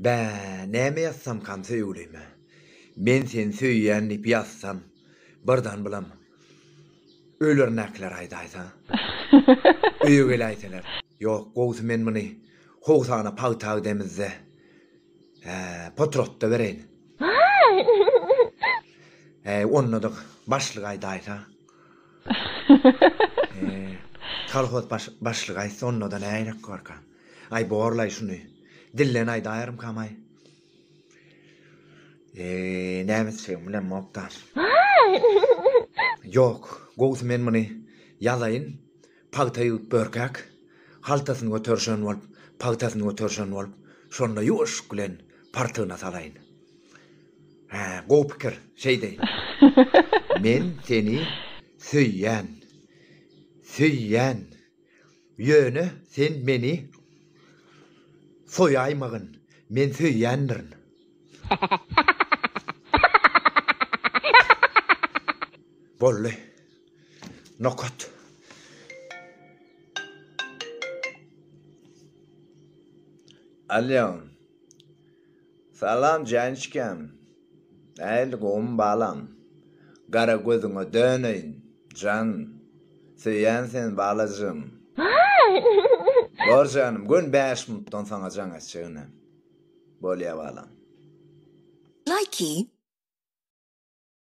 Bä, näme ýazsamkam söýgülime? Men seni söýýän diýip ýazsam, birdan bulam ölermäkiler aýdaýsa? Öýe geläýseler? Ýok, gowusy men muny howsana pagta gidemizde, hä, potratda bereýin. Häý, onda-da başlyk aýdaýsa? Kolhoz başlygy aýtsa onda-da ne gerek barka. Aý borlaý şuny. Dilden aýdaýarymkam-aý. Näme etjegimi bilemokda. Ýok, gowusy men muny ýazaýyn. Pagta ýygip börkäk, haltasyny göterişen bolup, pagtasyny göterişen bolup, şonda ýuwaşlyk bilen partygyna salaýyn. Hä, gowy pikir. Şeýdeý. Men seni söýýän. Söýýän. Ýöne sen meni soýaýmagyn. Men söýýändirin. Boldy. Nokat. Alýo. Salam Jançkam. Nähili gowmy balam. Gara gözüňe döneýin jan. Söýýän seni balajygym. Bor janym gün bäş minutdan saňa jaň etjek inem. Bolýa balam. Laýki.